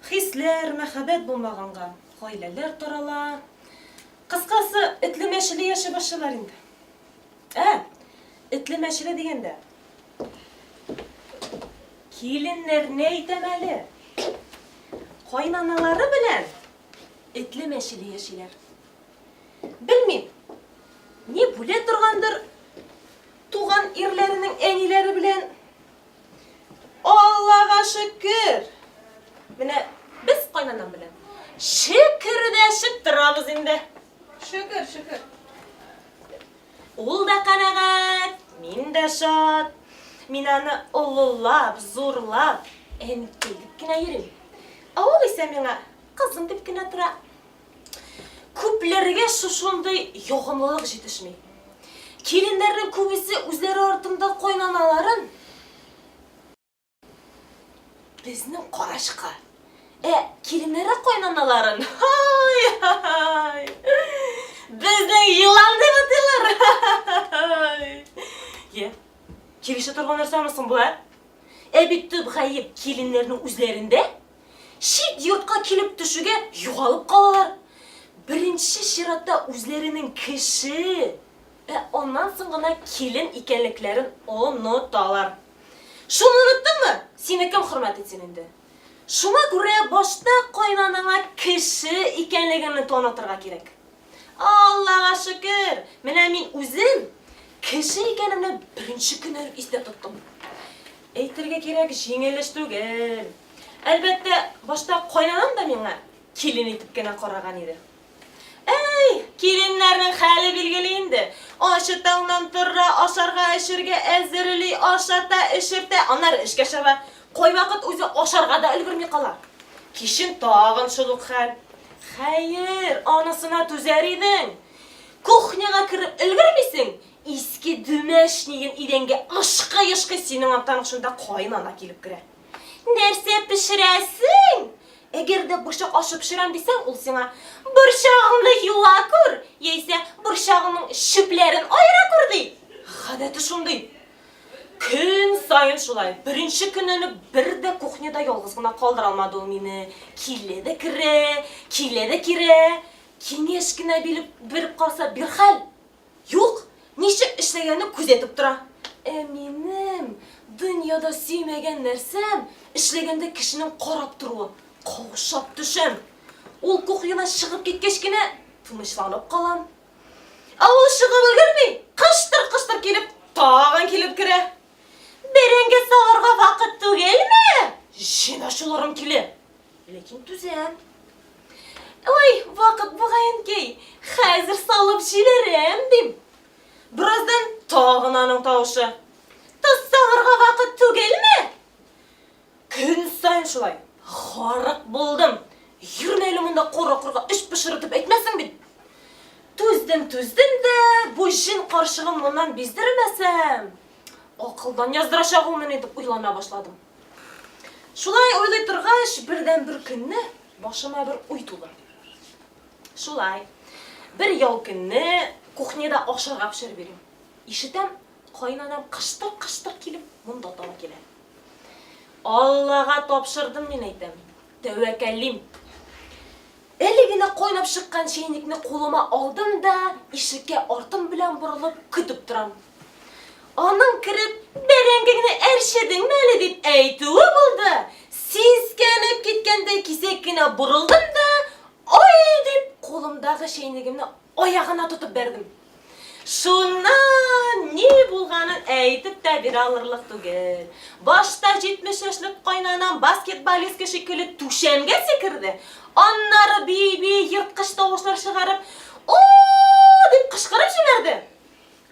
Хисләр, мәхәббәт булмаганга гаиләләр тарала. Кыскасы, этле-мәчеле яши башлыйлар инде. Ә, этле-мәчеле дигәндә, киленнәрне әйтәм әле. Кайнаналары белән этле-мәчеле яшиләр. Белмим, ни бүлә торгандыр туган ирләренең әниләре белән Аллага шөкер! Менә без кайнанам белән шөкердәшеп торабыз инде. Шөкер, шөкер. Ул да канәгать, мин дә шат. Мин аны олылап, зурлап, әнкәй дип кенә йөрим. Ә ул исә миңа кызым дип кенә тора. Күпләргә шушындый ягымлылык җитешми. Киленнәрнең күбесе үзләре артында кайнаналарын безнең карачка. Ә киленнәре кайнаналарын. Ай, ай. Безне елан дип атыйлар. Е. Килешә торган нәрсәме соң бу, ә? Ә бит төп гаеп киленнәрнең үзләрендә. Чит йортка килеп төшүгә югалып калалар. Беренче чиратта үзләренең кеше, ә аннан соң гына килен икәнлекләрен оныталар. Шуны оныттыңмы? Сине кем хөрмәт итсен инде? Шуңа күрә башта кайнанаңа кеше икәнлегеңне танытырга кирәк. Аллага шөкер, менә мин үзем кеше икәнемне беренче көннән үк истә тоттым. Әйтергә кирәк, җиңел эш түгел. Әлбәттә, башта кайнанам да миңа килен итеп кенә караган иде. Әй, киленнәрнең хәле билгеле инде. Ачы таңнан тора, ашарга-эчергә әзерли, ашата, эчертә, аннары эшкә чаба. Кайвакыт үзе ашарга да өлгерми кала. Кичен тагын шул ук хәл. Хәер, анысына түзәр идең. Кухняга кереп өлгермисең, Иске дүмәшнигын идәнгә ышкый-ышкый синең арттан ук шунда каенана килеп керә. Нәрсә пешерәсең? Әгәр дә борчак ашы пешерәм дисәң, ул сиңа, Борчагыңны юа күр, яисә Борчагыңның чүпләрен аера күр, ди. Гадәте шундый. Көн саен шулай. Беренче көннән үк бер дә кухняда ялгыз гына калдыра алмады ул мине. Килә дә керә, килә дә кирә. Киңәш кенә биреп караса, бирхәл. Юк, ничек эшләгәнен күзәтеп тора. Ә минем дөньяда сөймәгән нәрсәм, эшләгәндә кешенең карап торуы. Каушап төшәм. Ул кухнядан чыгып киткәч кенә тынычланып калам. Ә ул чыгып өлгерми, кыштыр-кыштыр килеп, тагын килеп керә. Бәрәңге салырга вакыт түгелме? Җыйна шуларың киле. Ләкин түзәм. Ой, вакыт бугаенкей, хәзер салып җибәрәм, дим. Бераздан тагын аның тавышы. Тоз салырга вакыт түгелме? Көн саен шулай. Харык булдым. Йөрмә әле монда кара-корга эч пошыр итеп әйтмәсең бит. Түздем, түздем дә, бу җен карчыгын моннан биздермәсәм, акылдан яздырачак ул мине дип уйлана башладым. Шулай уйлый торгач, бердән бер көнне башыма бер уй туды. Шулай. Бер ял көнне кухняда ашарга пешереп йөрим. Ишетәм, кайнанам кыштыр-кыштыр килеп монда таба килә. Аллага тапшырдым, мин әйтәм. Тәвәкәллим. Әле генә кайнап чыккан чәйнекне кулыма алдым да, ишеккә артым белән борылып көтеп торам. Аның кереп, бәрәңгеңне әрчедеңме әле дип әйтүе булды. Сискәнеп киткәндәй кисәк кенә борылдым да, ай дип, кулымдагы чәйнегемне Аягына тотып бәрдем. Шуннан ни булганын әйтеп тә бирә алырлык түгел. Башта 70 яшьлек кайнанам баскетболистка шикелле түшәмгә сикерде. Аннары бии-бии ерткыч тавышлар чыгарып, о дип кычкырып җибәрде.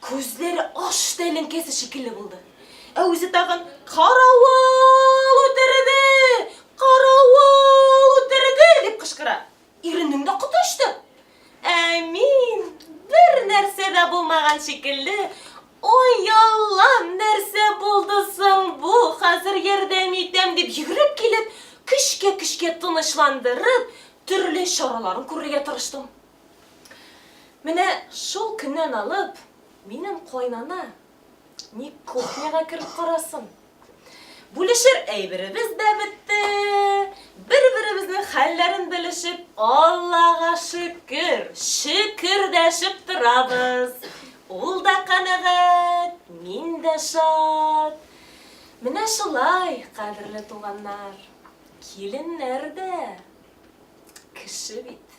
Күзләре ач тәлинкәсе шикелле булды. Ә үзе тагын Каравыл үтерде! Каравыл үтерде! дип кычкыра. Иренең дә коты очты. Ә мин бер нәрсә дә булмаган шикелле, Ой, Аллам, нәрсә булды соң бу? Хәзер ярдәм итәм, дип йөгереп килеп, көчкә-көчкә тынычландырып, төрле чараларын күрергә тырыштым. Менә шул көннән алып, минем кайнана Ни кухняга кереп карасын. Бүлешер әйберебез дә бетте. Бер-беребезнең хәлләрен белешеп, Аллага шөкер, шөкер дәшеп торабыз. Ул да канәгать, мин дә шат. Менә шулай, кадерле туганнар, киленнәр дә кеше бит.